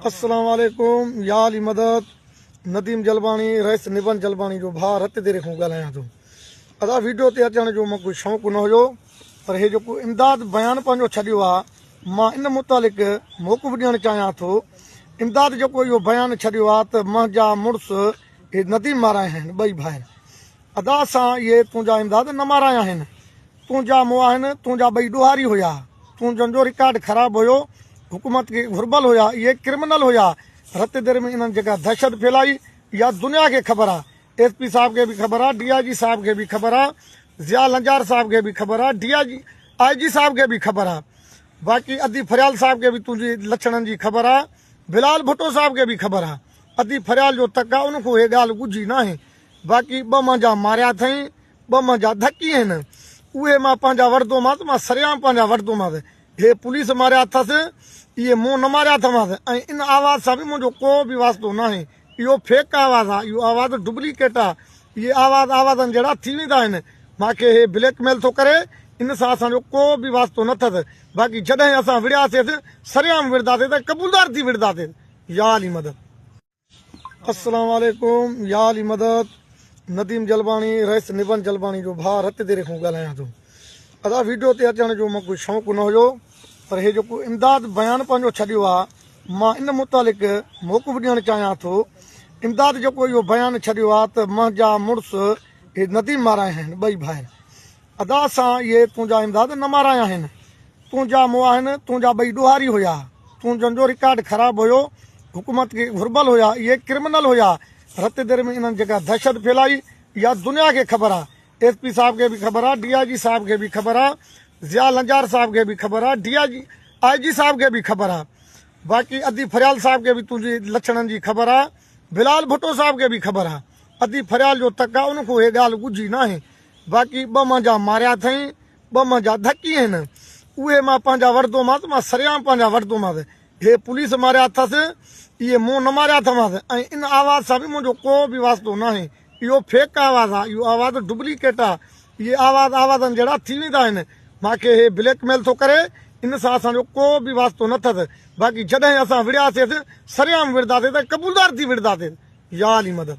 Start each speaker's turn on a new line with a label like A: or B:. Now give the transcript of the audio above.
A: السلام عليڪم يا علي مدد نديم جلباڻي رئيس نبن جلباڻي جو ڀاء رت ديري کان ڳالهايان ٿو ادا ويڊيو تي اچڻ جو مون ڪو شوق نه هيو پر هي جيڪو امداد بيان پنهنجو ڇڏيو آ مان ان متعلق موقف ڏيڻ چاهيان ٿو امداد جيڪو اهو بيان ڇڏيو آ ته منهنجا مڙس هي نديم مارا آهن ٻئي ڀائر ادا سان اهي تنهنجا امداد نه مارائي آهن تنهنجا مواهن تنهنجا ٻئي ڏوهاري هيا تنهنجن جو رڪارڊ خراب هيو حڪومت کي گهربل هيا اهي ڪرمنل هيا رت دير ۾ انهن جيڪا دهشت ڦهلائي اها دنيا کي خبر آ ايس پي صاحب کي به خبر آ ڊي آئي جي صاحب کي به خبر آ ضياء لنجار صاحب کي به خبر آ ڊي آئي جي آئي جي صاحب کي به خبر آ باقي ادي فريال صاحب کي به تنهنجي لڇڻن جي خبر آ بلال ڀٽو صاحب کي به خبر آ ادي فريال جو تڪ آ ان کان اهي ڳالهه ڳجهي ناهي باقي ٻه منهنجا ماريا اٿئين، ٻه منهنجا ڌڪي آهن، اهي مان پنهنجا وٺندومانس، مان سرعام پنهنجا وٺندومانس. هي پوليس ماريا اٿس، اهي مون نه ماريا اٿمانس ۽ ان آواز سان به منهنجو ڪو به واسطو ناهي. اهو فيڪ آواز آهي، اهو آواز ڊبليڪيٽ آهي. اهي آواز آوازن جهڙا ٿي ويندا آهن. مان کي هي بليڪ ميل ٿو ڪري، ان سان اسان جو ڪو به واسطو نه اٿس، باقي جڏهن اسان وڙهياسيس، سرعام وڙهنداسين ته قبولدار ٿي وڙهنداسين. يا علي مدد! السلام عليڪم يا علي مدد نديم جلباڻي رئيس نبن جلباڻي جو ڀاء رت ديري کان ڳالهايان ٿو ادا ويڊيو تي اچڻ جو مون کي شوق نه هيو پر هي جيڪو امداد بيان پنهنجو ڇڏيو آ مان ان متعلق موقف ڏيڻ چاهيان ٿو امداد جيڪو اهو بيان ڇڏيو آ ته منهنجا مڙس هي نديم مارا آهن ٻئي ڀائر ادا سان اهي تنهنجا امداد نه مارائي آهن تنهنجا مواهن تنهنجا ٻئي ڏوهاري هيا تنهنجن جو رڪارڊ خراب هيو حڪومت کي گهربل هيا اهي ڪرمنل هيا رت دير ۾ انهن جيڪا دهشت ڦهلائي اها دنيا کي خبر آ ايس پي صاحب کي به خبر آ ڊي آء جي صاحب کي به خبر آ ضياء لنجار صاحب کي به خبر آ ڊي آء جي آء جي صاحب کي به خبر آ باقي ادي فريال صاحب کي به تنهنجي لڇڻن جي خبر آ بلال ڀٽو صاحب کي به خبر آ ادي فريال جو تڪ آ ان کان اهي ڳالهه ڳجهي ناهي باقي ٻه منهنجا ماريا اٿئين، ٻه منهنجا ڌڪي آهن، اهي مان پنهنجا وٺندومانس، مان سرعام پنهنجا وٺندومانس. هي پوليس ماريا اٿس، اهي مون نه ماريا اٿمانس ۽ ان آواز سان به منهنجو ڪو به واسطو ناهي. اهو فيڪ آواز آهي، اهو آواز ڊبليڪيٽ آهي. اهي آواز آوازن جهڙا ٿي ويندا آهن. مان کي هي بليڪ ميل ٿو ڪري، ان سان اسان جو ڪو به واسطو نه اٿس. باقي جڏهن اسان وڙهياسيس، سرعام وڙهنداسيس ۽ قبولدار ٿي وڙهنداسيس. يا علي مدد!